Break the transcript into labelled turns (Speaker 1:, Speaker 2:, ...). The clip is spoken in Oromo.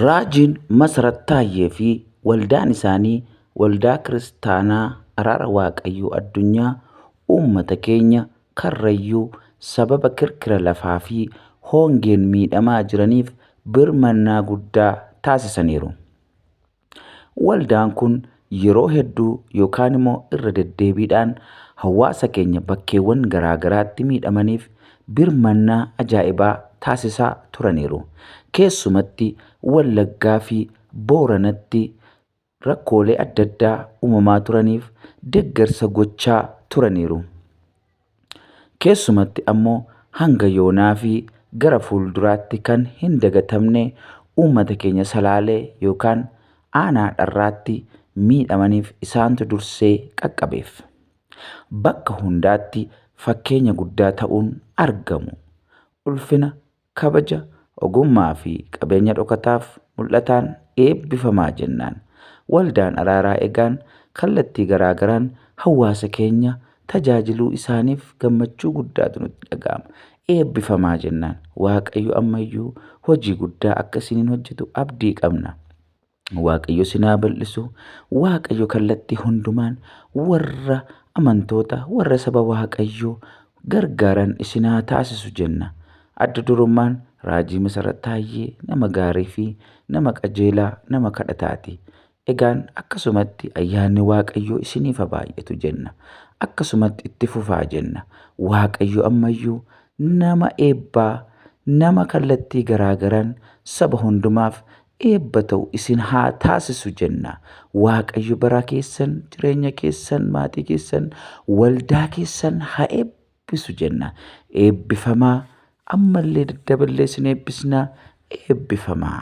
Speaker 1: Raajiin Masarat Taayyee fi waldaan isaanii Waldaa Kiristaanaa Araara Waaqayyoo Addunyaa uummata keenya Karrayyuu sababa kirkira lafaa fi hongeen miidhamaa jiraniif birmannaa guddaa taasisaniiru. Waldaan kun yeroo hedduu yookaan immoo irra deddeebiidhaan hawaasa keenya bakkeewwan garaa garaatti miidhamaniif birmannaa ajaa'ibaa taasisaa turaniiru. Keessumatti Wallaggaa fi Booranatti rakkoolee adda addaa uumamaa turaniif deggarsa gochaa turaniiru. Keessumatti ammoo hanga yoonaa fi gara fuulduraatti kan hin dagatamne uummata keenya Salaalee yookaan Aanaa Dharraatti miidhamaniif isaantu dursee qaqqabeef. Bakka hundaatti fakkeenya guddaa ta'uun argamu. Ulfina Kabaja, ogummaa fi qabeenya dhokataaf mul'ataan eebbifamaa jennaan Waldaan Araaraa Egaan kallattii garaa garaan hawwaasa keenya tajaajiluu isaaniif gammachuu guddaatu nutti dhaga'ama. Eebbifamaa jennaan Waaqayyo ammayyuu hojii guddaa akka isiniin hojjetu abdii qabna. Waaqayyo sin haa bal'isu. Waaqayyo kallattii hundumaan warra amantoota warra saba Waaqayyoo gargaaran isin haa taasisu jenna. Adda durummaan raajii Masarat Taayyee nama gaarii fi nama qajeelaa nama kadhataati. Egaan akkasumatti ayyaanni Waaqayyoo isiniif haa baay'atu jenna. Akkasumatti itti fufaa jenna. Waaqayyo ammayyuu nama eebbaa nama kallattii garaagaraan saba hundumaaf eebba ta'u isin haa taasisu jenna. Waaqayyo baraa keessan, jireenya keessan, maatii keessan, waldaa keessan haa eebbisu jenna. Eebbifamaa ammallee daddaballee isin eebbisna eebbifamaa.